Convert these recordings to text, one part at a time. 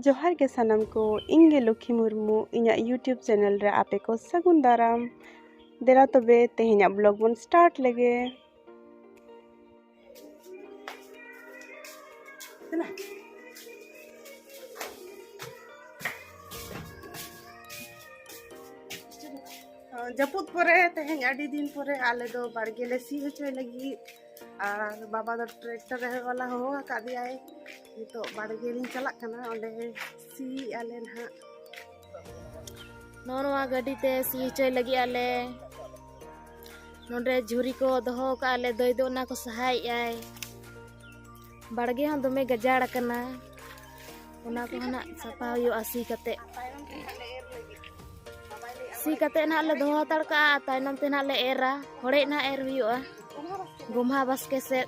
ᱡᱚᱦᱟᱨ ᱜᱮ ᱥᱟᱱᱟᱢ ᱠᱚ ᱤᱧ ᱜᱮ ᱞᱚᱠᱠᱷᱤ ᱢᱩᱨᱢᱩ ᱤᱧᱟᱹᱜ ᱤᱭᱩᱴᱤᱭᱩᱵᱽ ᱪᱮᱱᱮᱞ ᱨᱮ ᱟᱯᱮ ᱠᱚ ᱥᱟᱹᱜᱩᱱ ᱫᱟᱨᱟᱢ ᱫᱮᱞᱟ ᱛᱚᱵᱮ ᱛᱮᱦᱮᱧᱟᱜ ᱵᱞᱚᱜ ᱵᱚᱱ ᱥᱴᱟᱨᱴ ᱞᱮᱜᱮ ᱡᱟᱹᱯᱩᱫ ᱯᱚᱨᱮ ᱛᱮᱦᱮᱧ ᱟᱹᱰᱤ ᱫᱤᱱ ᱯᱚᱨᱮ ᱟᱞᱮ ᱫᱚ ᱵᱟᱲᱜᱮ ᱞᱮ ᱥᱤ ᱦᱚᱪᱚᱭ ᱞᱟᱹᱜᱤᱫ ᱟᱨ ᱵᱟᱵᱟ ᱫᱚ ᱴᱨᱟᱠᱴᱟᱨ ᱨᱮ ᱵᱟᱞᱟ ᱦᱚᱦᱚ ᱟᱠᱟᱫᱮᱭᱟᱭ ᱱᱤᱛᱚᱜ ᱵᱟᱲᱜᱮ ᱞᱤᱧ ᱪᱟᱞᱟᱜ ᱠᱟᱱᱟ ᱚᱸᱰᱮ ᱥᱤ ᱟᱞᱮ ᱱᱟᱦᱟᱜ ᱱᱚᱜᱼᱚ ᱱᱚᱣᱟ ᱜᱟᱹᱰᱤ ᱛᱮ ᱥᱤ ᱦᱚᱪᱚᱭ ᱞᱟᱹᱜᱤᱫ ᱟᱞᱮ ᱱᱚᱰᱮ ᱡᱷᱩᱨᱤ ᱠᱚ ᱫᱚᱦᱚ ᱠᱟᱜᱼᱟ ᱞᱮ ᱫᱚᱭ ᱫᱚ ᱚᱱᱟ ᱠᱚ ᱥᱟᱦᱟᱭᱮᱜᱼᱟᱭ ᱵᱟᱲᱜᱮ ᱦᱚᱸ ᱫᱚᱢᱮ ᱜᱟᱡᱟᱲ ᱟᱠᱟᱱᱟ ᱚᱱᱟ ᱠᱚᱦᱚᱸ ᱱᱟᱜ ᱥᱟᱯᱷᱟ ᱦᱩᱭᱩᱜᱼᱟ ᱥᱤ ᱠᱟᱛᱮ ᱥᱤ ᱠᱟᱛᱮ ᱱᱟᱜ ᱞᱮ ᱫᱚᱦᱚ ᱦᱟᱛᱟᱲ ᱠᱟᱜᱼᱟ ᱛᱟᱭᱱᱚᱢ ᱛᱮ ᱱᱟᱜ ᱞᱮ ᱮᱨᱟ ᱦᱚᱲᱮ ᱱᱟᱜ ᱮᱨ ᱦᱩᱭᱩᱜᱼᱟ ᱜᱚᱢᱦᱟ ᱵᱟᱥᱠᱮ ᱥᱮᱫ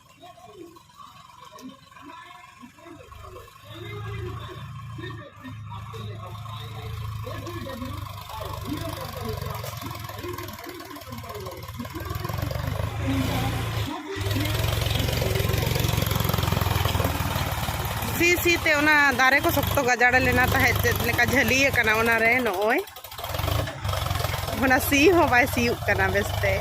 ᱥᱤ ᱥᱤ ᱛᱮ ᱚᱱᱟ ᱫᱟᱨᱮ ᱠᱚ ᱥᱚᱠᱛᱚ ᱜᱟᱡᱟᱲ ᱞᱮᱱᱟ ᱛᱟᱦᱮᱸᱫ ᱪᱮᱫ ᱞᱮᱠᱟ ᱡᱷᱟᱹᱞᱤ ᱟᱠᱟᱱᱟ ᱚᱱᱟ ᱨᱮ ᱱᱚᱜᱼᱚᱭ ᱚᱱᱟ ᱥᱤ ᱦᱚᱸ ᱵᱟᱭ ᱥᱤᱭᱩᱜ ᱠᱟᱱᱟ ᱵᱮᱥᱛᱮ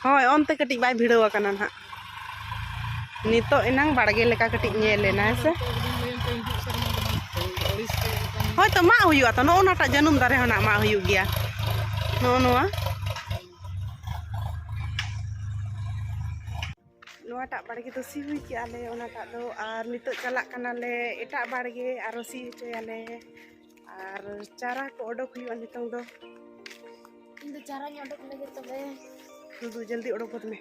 ᱦᱳᱭ ᱚᱱᱛᱮ ᱠᱟᱹᱴᱤᱡ ᱵᱟᱭ ᱵᱷᱤᱲᱟᱹᱣ ᱟᱠᱟᱱᱟ ᱱᱟᱦᱟᱜ ᱱᱤᱛᱚᱜ ᱮᱱᱟᱝ ᱵᱟᱲᱜᱮ ᱞᱮᱠᱟ ᱠᱟᱹᱴᱤᱡ ᱧᱮᱞ ᱮᱱᱟ ᱦᱮᱸ ᱥᱮ ᱦᱳᱭ ᱛᱚ ᱢᱟᱜ ᱦᱩᱭᱩᱜᱼᱟ ᱛᱚ ᱱᱚᱜᱼᱚ ᱱᱟᱴᱟᱜ ᱡᱟᱹᱱᱩᱢ ᱫᱟᱨᱮ ᱦᱚᱸ ᱱᱟᱜ ᱢᱟᱜ ᱦᱩᱭᱩᱜ ᱜᱮᱭᱟ ᱱᱚᱜᱼᱚ ᱱᱚᱣᱟ ᱱᱚᱣᱟᱴᱟᱜ ᱵᱟᱲᱜᱮ ᱫᱚ ᱥᱤ ᱦᱩᱭ ᱠᱮᱜᱼᱟ ᱞᱮ ᱚᱱᱟᱴᱟᱜ ᱫᱚ ᱟᱨ ᱱᱤᱛᱚᱜ ᱪᱟᱞᱟᱜ ᱠᱟᱱᱟᱞᱮ ᱮᱴᱟᱜ ᱵᱟᱲᱜᱮ ᱟᱨᱚ ᱥᱤ ᱦᱚᱪᱚᱭᱟᱞᱮ ᱟᱨ ᱪᱟᱨᱟ ᱠᱚ ᱚᱰᱚᱠ ᱦᱩᱭᱩᱜᱼᱟ ᱱᱤᱛᱚᱝ ᱫᱚ ᱤᱧ ᱫᱚ ᱪᱟᱨᱟᱧ ᱚᱰᱚᱠ ᱞᱟᱹᱜᱤᱫ ᱛᱚᱵᱮ ᱫᱩᱫᱩ ᱡᱚᱞᱫᱤ ᱚᱰᱚᱠ ᱜᱚᱫ ᱢᱮ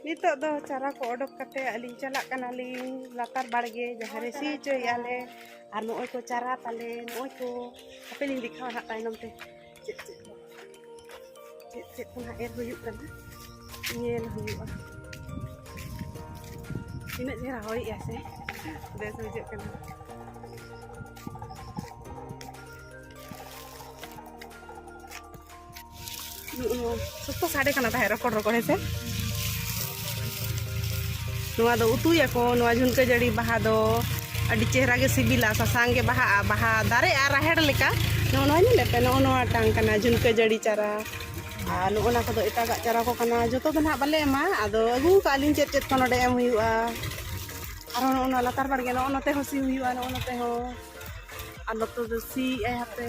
ᱱᱤᱛᱚᱜ ᱫᱚ ᱪᱟᱨᱟ ᱠᱚ ᱚᱰᱚᱠ ᱠᱟᱛᱮ ᱟᱹᱞᱤᱧ ᱪᱟᱞᱟᱜ ᱠᱟᱱᱟᱞᱤᱧ ᱞᱟᱛᱟᱨ ᱵᱟᱲᱜᱮ ᱡᱟᱦᱟᱸ ᱨᱮ ᱥᱤ ᱦᱚᱪᱚᱭᱮᱫᱼᱟᱞᱮ ᱟᱨ ᱱᱚᱜᱼᱚᱭ ᱠᱚ ᱪᱟᱨᱟ ᱛᱟᱞᱮ ᱱᱚᱜᱼᱚᱭ ᱠᱚ ᱦᱟᱯᱮ ᱞᱤᱧ ᱫᱮᱠᱷᱟᱣᱟ ᱦᱟᱸᱜ ᱛᱟᱭᱱᱚᱢ ᱛᱮ ᱪᱮᱫ ᱪᱮᱫ ᱠᱚ ᱪᱮᱫ ᱪᱮᱫ ᱠᱚ ᱦᱟᱸᱜ ᱮᱨ ᱦᱩᱭᱩᱜ ᱠᱟᱱᱟ ᱧᱮᱞ ᱦᱩᱭᱩᱜᱼᱟ ᱛᱤᱱᱟᱹᱜ ᱪᱮᱦᱨᱟ ᱦᱚᱭᱮᱜᱼᱟ ᱥᱮ ᱵᱮᱥ ᱵᱩᱡᱷᱟᱹᱜ ᱠᱟᱱᱟ ᱥᱚᱠᱛᱚ ᱥᱟᱰᱮ ᱠᱟᱱᱟ ᱛᱟᱦᱮᱸᱫ ᱨᱚᱠᱚᱲ ᱨᱚᱠᱚᱲ ᱦᱮᱸᱥᱮ ᱱᱚᱣᱟ ᱫᱚ ᱩᱛᱩᱭᱟᱠᱚ ᱱᱚᱣᱟ ᱡᱷᱩᱱᱠᱟᱹ ᱡᱟᱹᱲᱤ ᱵᱟᱦᱟ ᱫᱚ ᱟᱹᱰᱤ ᱪᱮᱦᱨᱟ ᱜᱮ ᱥᱤᱵᱤᱞᱟ ᱥᱟᱥᱟᱝ ᱜᱮ ᱵᱟᱦᱟᱜᱼᱟ ᱵᱟᱦᱟ ᱫᱟᱨᱮᱜᱼᱟ ᱨᱟᱦᱮᱲ ᱞᱮᱠᱟ ᱱᱚᱜᱼᱚ ᱱᱚᱣᱟ ᱧᱮᱞᱮᱫ ᱯᱮ ᱱᱚᱜᱼᱚ ᱱᱚᱣᱟ ᱴᱟᱝ ᱠᱟᱱᱟ ᱡᱷᱩᱱᱠᱟᱹ ᱡᱟᱹᱲᱤ ᱪᱟᱨᱟ ᱟᱨ ᱱᱚᱜᱼᱚ ᱱᱟ ᱠᱚᱫᱚ ᱮᱴᱟᱜᱟᱜ ᱪᱟᱨᱟ ᱠᱚ ᱠᱟᱱᱟ ᱡᱚᱛᱚ ᱫᱚ ᱱᱟᱦᱟᱜ ᱵᱟᱞᱮ ᱮᱢᱟ ᱟᱫᱚ ᱟᱹᱜᱩ ᱠᱟᱜ ᱟᱹᱞᱤᱧ ᱪᱮᱫ ᱪᱮᱫ ᱠᱚ ᱱᱚᱰᱮ ᱮᱢ ᱦᱩᱭᱩᱜᱼᱟ ᱟᱨᱦᱚᱸ ᱱᱚᱜᱼᱚ ᱱᱚᱣᱟ ᱞᱟᱛᱟᱨ ᱵᱟᱲᱜᱮ ᱱᱚᱜᱼᱚ ᱱᱚᱛᱮ ᱦᱚᱸ ᱥᱤ ᱦᱩᱭᱩᱜᱼᱟ ᱱᱚᱜᱼᱚ ᱱᱚᱛᱮ ᱦᱚᱸ ᱟᱨ ᱱᱚᱛᱮ ᱫᱚ ᱥᱤᱭᱮᱫᱼᱟᱭ ᱦᱟᱯᱮ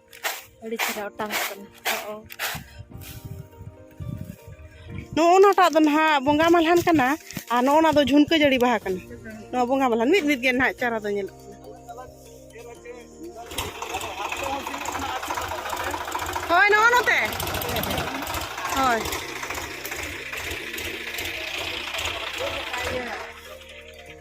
ᱟᱹᱰᱤ ᱪᱮᱦᱨᱟ ᱚᱴᱟᱝ ᱠᱟᱱᱟ ᱱᱚᱜᱼᱚ ᱱᱟᱴᱟᱜ ᱫᱚ ᱱᱟᱦᱟᱜ ᱵᱚᱸᱜᱟ ᱢᱟᱞᱦᱟᱱ ᱠᱟᱱᱟ ᱟᱨ ᱱᱚᱜᱼᱚ ᱱᱟ ᱫᱚ ᱡᱷᱩᱱᱠᱟᱹ ᱡᱟᱹᱲᱤ ᱵᱟᱦᱟ ᱠᱟᱱᱟ ᱱᱚᱣᱟ ᱵᱚᱸᱜᱟ ᱢᱟᱞᱦᱟᱱ ᱢᱤᱫ ᱢᱤᱫ ᱜᱮ ᱱᱟᱦᱟᱜ ᱪᱟᱨᱟ ᱫᱚ ᱧᱮᱞᱚᱜ ᱠᱟᱱᱟ ᱦᱳᱭ ᱱᱚᱜᱼᱚ ᱱᱚᱛᱮ ᱦᱳᱭ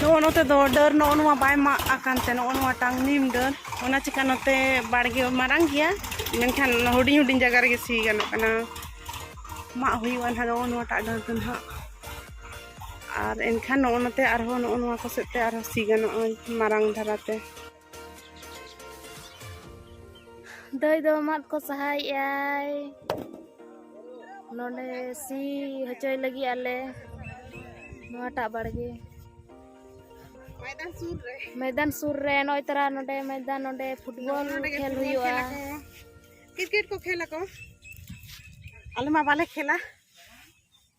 ᱱᱚᱜᱼᱚ ᱱᱚᱛᱮ ᱫᱚ ᱰᱟᱹᱨ ᱱᱚᱜᱼᱚ ᱱᱚᱣᱟ ᱵᱟᱭ ᱢᱟᱜ ᱟᱠᱟᱱ ᱛᱮ ᱱᱚᱜᱼᱚ ᱱᱚᱣᱟᱴᱟᱝ ᱱᱤᱢ ᱰᱟᱹᱨ ᱚᱱᱟ ᱪᱤᱠᱟ ᱱᱚᱛᱮ ᱵᱟᱲᱜᱮ ᱢᱟᱨᱟᱝ ᱜᱮᱭᱟ ᱢᱮᱱᱠᱷᱟᱱ ᱦᱩᱰᱤᱧ ᱦᱩᱰᱤᱧ ᱡᱟᱭᱜᱟ ᱨᱮᱜᱮ ᱥᱤ ᱜᱟᱱᱚᱜ ᱠᱟᱱᱟ ᱢᱟᱜ ᱦᱩᱭᱩᱜᱼᱟ ᱱᱟᱦᱟᱜ ᱱᱚᱜᱼᱚ ᱱᱚᱣᱟᱴᱟᱜ ᱰᱟᱹᱨ ᱫᱚ ᱱᱟᱦᱟᱜ ᱟᱨ ᱮᱱᱠᱷᱟᱱ ᱱᱚᱜᱼᱚ ᱱᱚᱛᱮ ᱟᱨᱦᱚᱸ ᱱᱚᱜᱼᱚ ᱱᱚᱣᱟ ᱠᱚ ᱥᱮᱫ ᱛᱮ ᱟᱨᱦᱚᱸ ᱥᱤ ᱜᱟᱱᱚᱜᱼᱟ ᱢᱟᱨᱟᱝ ᱫᱷᱟᱨᱟᱛᱮ ᱫᱟᱹᱭ ᱫᱚ ᱢᱟᱫ ᱠᱚ ᱥᱟᱦᱟᱭᱮᱜᱼᱟᱭ ᱱᱚᱰᱮ ᱥᱤ ᱦᱚᱪᱚᱭ ᱞᱟᱹᱜᱤᱫ ᱟᱞᱮ ᱱᱚᱣᱟᱴᱟᱜ ᱵᱟᱲᱜᱮ ᱢᱚᱭᱫᱟᱱ ᱥᱩᱨ ᱨᱮ ᱱᱚᱜᱼᱚᱭ ᱛᱟᱨᱟ ᱱᱚᱰᱮ ᱢᱚᱭᱫᱟᱱ ᱱᱚᱰᱮ ᱯᱷᱩᱴᱵᱚᱞ ᱠᱷᱮᱞ ᱦᱩᱭᱩᱜᱼᱟ ᱠᱨᱤᱠᱮᱴ ᱠᱚ ᱠᱷᱮᱞ ᱟᱠᱚ ᱟᱞᱮ ᱢᱟ ᱵᱟᱞᱮ ᱠᱷᱮᱞᱟ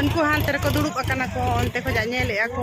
ᱩᱱᱠᱩ ᱦᱟᱱᱛᱮ ᱨᱮᱠᱚ ᱫᱩᱲᱩᱵ ᱟᱠᱟᱱᱟ ᱠᱚ ᱚᱱᱛᱮ ᱠᱷᱚᱱᱟᱜ ᱧᱮᱞᱮᱫᱼᱟ ᱠᱚ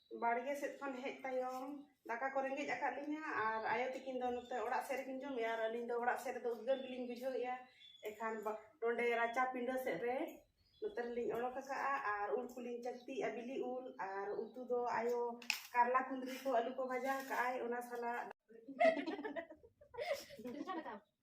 ᱵᱟᱲᱜᱮ ᱥᱮᱫ ᱠᱷᱚᱱ ᱦᱮᱡ ᱛᱟᱭᱚᱢ ᱫᱟᱠᱟ ᱠᱚ ᱨᱮᱸᱜᱮᱡ ᱟᱠᱟᱫ ᱞᱤᱧᱟ ᱟᱨ ᱟᱭᱳ ᱛᱤᱠᱤᱱ ᱫᱚ ᱱᱚᱛᱮ ᱚᱲᱟᱜ ᱥᱮᱫ ᱨᱮᱠᱤᱱ ᱡᱚᱢᱮᱜᱼᱟ ᱟᱨ ᱟᱹᱞᱤᱧ ᱫᱚ ᱚᱲᱟᱜ ᱥᱮᱫ ᱨᱮᱫᱚ ᱩᱫᱽᱜᱟᱹᱨ ᱜᱮᱞᱤᱧ ᱵᱩᱡᱷᱟᱹᱣᱮᱜᱼᱟ ᱮᱱᱠᱷᱟᱱ ᱱᱚᱰᱮ ᱨᱟᱪᱟ ᱯᱤᱸᱰᱟᱹ ᱥᱮᱫ ᱨᱮ ᱱᱚᱛᱮ ᱨᱮᱞᱤᱧ ᱚᱰᱚᱠ ᱟᱠᱟᱫᱼᱟ ᱟᱨ ᱩᱞ ᱠᱚᱞᱤᱧ ᱪᱟᱹᱠᱛᱤᱭᱮᱜᱼᱟ ᱵᱤᱞᱤ ᱩᱞ ᱟᱨ ᱩᱛᱩ ᱫᱚ ᱟᱭᱳ ᱠᱟᱨᱞᱟ ᱠᱩᱸᱫᱽᱨᱤ ᱠᱚ ᱟᱹᱞᱩ ᱠᱚ ᱵᱷᱟᱡᱟ ᱟᱠᱟᱫᱼᱟᱭ ᱚᱱᱟ ᱥᱟᱞᱟᱜ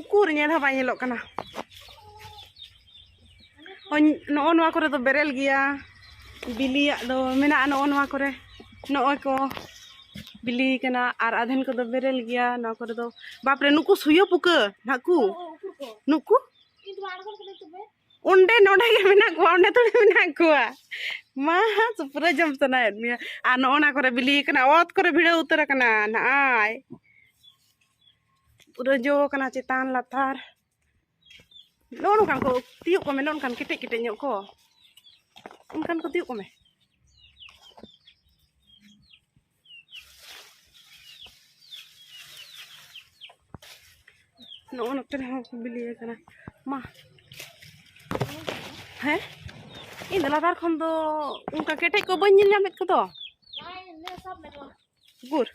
ᱩᱠᱩᱨ ᱧᱮᱞ ᱦᱚᱸ ᱵᱟᱭ ᱧᱮᱞᱚᱜ ᱠᱟᱱᱟ ᱱᱚᱜᱼᱚ ᱱᱚᱣᱟ ᱠᱚᱨᱮ ᱫᱚ ᱵᱮᱨᱮᱞ ᱜᱮᱭᱟ ᱵᱤᱞᱤᱭᱟᱜ ᱫᱚ ᱢᱮᱱᱟᱜᱼᱟ ᱱᱚᱜᱼᱚ ᱱᱚᱣᱟ ᱠᱚᱨᱮ ᱱᱚᱜᱼᱚᱭ ᱠᱚ ᱵᱤᱞᱤ ᱠᱟᱱᱟ ᱟᱨ ᱟᱫᱷᱮᱱ ᱠᱚᱫᱚ ᱵᱮᱨᱮᱞ ᱜᱮᱭᱟ ᱱᱚᱣᱟ ᱠᱚᱨᱮ ᱫᱚ ᱵᱟᱯᱨᱮ ᱱᱩᱠᱩ ᱥᱩᱭᱟᱹ ᱯᱩᱠᱟᱹ ᱱᱟᱠᱩ ᱱᱩᱠᱩ ᱚᱸᱰᱮ ᱱᱚᱰᱮ ᱜᱮ ᱢᱮᱱᱟᱜ ᱠᱚᱣᱟ ᱚᱸᱰᱮ ᱛᱷᱚᱲᱮ ᱢᱮᱱᱟᱜ ᱠᱚᱣᱟ ᱢᱟ ᱥᱩᱯᱨᱟᱹ ᱡᱚᱢ ᱥᱟᱱᱟᱭᱮᱫ ᱢᱮᱭᱟ ᱟᱨ ᱱᱚᱜᱼᱚ ᱱᱟ ᱠᱚᱨᱮ ᱵᱤᱞᱤ ᱠᱟᱱᱟ ᱚᱛ ᱠᱚᱨᱮ ᱵᱷᱤᱲᱟᱹᱣ ᱩᱛᱟᱹᱨ ᱟᱠᱟᱱᱟ ᱱᱟᱜᱼᱟᱭ ᱯᱩᱨᱟᱹ ᱡᱚ ᱠᱟᱱᱟ ᱪᱮᱛᱟᱱ ᱞᱟᱛᱟᱨ ᱱᱚᱜᱼᱚ ᱱᱚᱝᱠᱟᱱ ᱠᱚ ᱛᱤᱭᱳᱜ ᱠᱚᱢᱮ ᱱᱚᱜᱼᱚ ᱱᱚᱝᱠᱟᱱ ᱠᱮᱴᱮᱡ ᱠᱮᱴᱮᱡ ᱧᱚᱜ ᱠᱚ ᱚᱱᱠᱟᱱ ᱠᱚ ᱛᱤᱭᱳᱜ ᱠᱚᱢᱮ ᱱᱚᱜᱼᱚ ᱱᱚᱛᱮ ᱨᱮᱦᱚᱸ ᱠᱚ ᱵᱤᱞᱤ ᱟᱠᱟᱱᱟ ᱢᱟ ᱦᱮᱸ ᱤᱧ ᱫᱚ ᱞᱟᱛᱟᱨ ᱠᱷᱚᱱ ᱫᱚ ᱚᱱᱠᱟ ᱠᱮᱴᱮᱡ ᱠᱚ ᱵᱟᱹᱧ ᱧᱮᱞ ᱧᱟᱢᱮᱫ ᱠᱚᱫᱚ ᱜᱩᱨ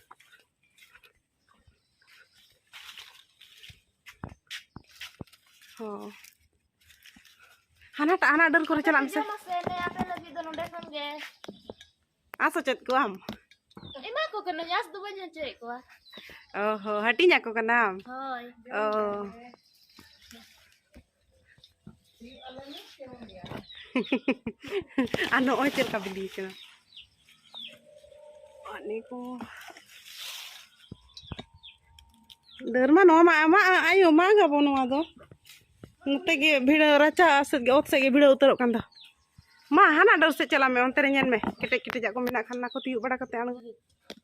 ᱦᱚᱸ ᱦᱟᱱᱟᱴᱟᱜ ᱦᱟᱱᱟ ᱰᱟᱹᱨ ᱠᱚᱨᱮ ᱪᱟᱞᱟᱜ ᱢᱮᱥᱮ ᱟᱥ ᱦᱚᱪᱚᱭᱮᱫ ᱠᱚᱣᱟᱢ ᱮᱢᱟ ᱠᱚ ᱠᱟᱹᱱᱟᱹᱧ ᱟᱥ ᱫᱚ ᱵᱟᱹᱧ ᱦᱚᱪᱚᱭᱮᱫ ᱠᱚᱣᱟ ᱚ ᱦᱚᱸ ᱦᱟᱹᱴᱤᱧ ᱟᱠᱚ ᱠᱟᱱᱟᱢ ᱦᱳᱭ ᱚ ᱟᱨ ᱱᱚᱜᱼᱚᱭ ᱪᱮᱫ ᱞᱮᱠᱟ ᱵᱤᱞᱤ ᱠᱟᱱᱟ ᱟᱨ ᱱᱤᱭᱟᱹ ᱠᱚ ᱰᱟᱹᱨ ᱢᱟ ᱱᱚᱣᱟ ᱢᱟ ᱟᱢᱟᱜ ᱟᱭᱳ ᱢᱟᱜᱽ ᱟᱵᱚ ᱱᱚᱣᱟ ᱫᱚ ᱱᱚᱛᱮ ᱜᱮ ᱵᱷᱤᱲᱟᱹ ᱨᱟᱪᱟ ᱥᱮᱫ ᱜᱮ ᱚᱛ ᱥᱮᱫ ᱜᱮ ᱵᱷᱤᱲᱟᱹ ᱩᱛᱟᱹᱨᱚᱜ ᱠᱟᱱ ᱫᱚ ᱢᱟ ᱦᱟᱱᱟ ᱰᱟᱹᱨ ᱥᱮᱫ ᱪᱟᱞᱟᱜ ᱢᱮ ᱚᱱᱛᱮ ᱨᱮ ᱧᱮᱞ ᱢᱮ ᱠᱮᱴᱮᱡ ᱠᱮᱴᱮᱡᱟᱜ ᱠᱚ ᱢᱮᱱᱟᱜ ᱠᱷᱟᱱ ᱚᱱᱟ ᱠᱚ ᱛᱤᱭᱳᱜ ᱵᱟᱲᱟ ᱠᱟᱛᱮ ᱟᱬᱜᱚ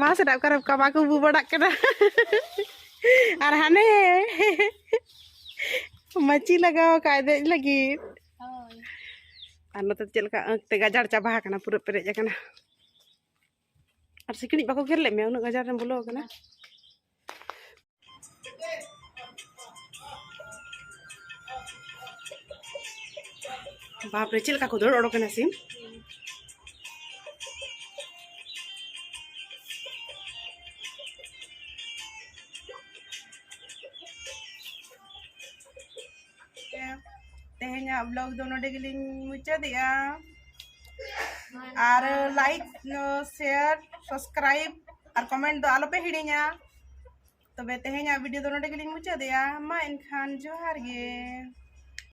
ᱢᱟ ᱥᱮᱱᱟᱜ ᱚᱠᱟᱨᱮ ᱚᱠᱟ ᱵᱟᱠᱚ ᱵᱩ ᱵᱟᱲᱟᱜ ᱠᱟᱱᱟ ᱟᱨ ᱦᱟᱱᱮ ᱢᱟᱹᱪᱤ ᱞᱟᱜᱟᱣ ᱟᱠᱟᱫ ᱫᱮᱡ ᱞᱟᱹᱜᱤᱫ ᱟᱨ ᱱᱚᱛᱮ ᱪᱮᱫ ᱞᱮᱠᱟ ᱟᱸᱠ ᱛᱮ ᱜᱟᱡᱟᱲ ᱪᱟᱵᱟ ᱟᱠᱟᱱᱟ ᱯᱩᱨᱟᱹ ᱯᱮᱨᱮᱡ ᱟᱠᱟᱱᱟ ᱟᱨ ᱥᱤᱠᱲᱤᱡ ᱵᱟᱠᱚ ᱜᱮᱨ ᱞᱮᱫ ᱢᱮᱭᱟ ᱩᱱᱟᱹᱜ ᱜᱟᱡᱟᱲ ᱨᱮᱢ ᱵᱚᱞᱚ ᱟᱠᱟᱱᱟ ᱵᱟᱯᱨᱮ ᱪᱮᱫ ᱞᱮᱠᱟ ᱠᱚ ᱫᱟᱹᱲ ᱚᱰᱚᱠ ᱮᱱᱟ ᱥᱤᱢ ᱛᱮᱦᱮᱧᱟᱜ ᱵᱞᱚᱜ ᱫᱚ ᱱᱚᱰᱮ ᱜᱮᱞᱤᱧ ᱢᱩᱪᱟᱹᱫᱮᱜᱼᱟ ᱟᱨ ᱞᱟᱭᱤᱠ ᱥᱮᱭᱟᱨ ᱥᱟᱵᱥᱠᱨᱟᱭᱤᱵ ᱟᱨ ᱠᱚᱢᱮᱱᱴ ᱫᱚ ᱟᱞᱚᱯᱮ ᱦᱤᱲᱤᱧᱟ ᱛᱚᱵᱮ ᱛᱮᱦᱮᱧᱟᱜ ᱵᱷᱤᱰᱤᱭᱳ ᱫᱚ ᱱᱚᱰᱮ ᱜᱮᱞᱤᱧ ᱢᱩᱪᱟᱹᱫᱮᱜᱼᱟ ᱢᱟ ᱮᱱᱠᱷᱟᱱ ᱡᱚᱦᱟᱨ ᱜᱮ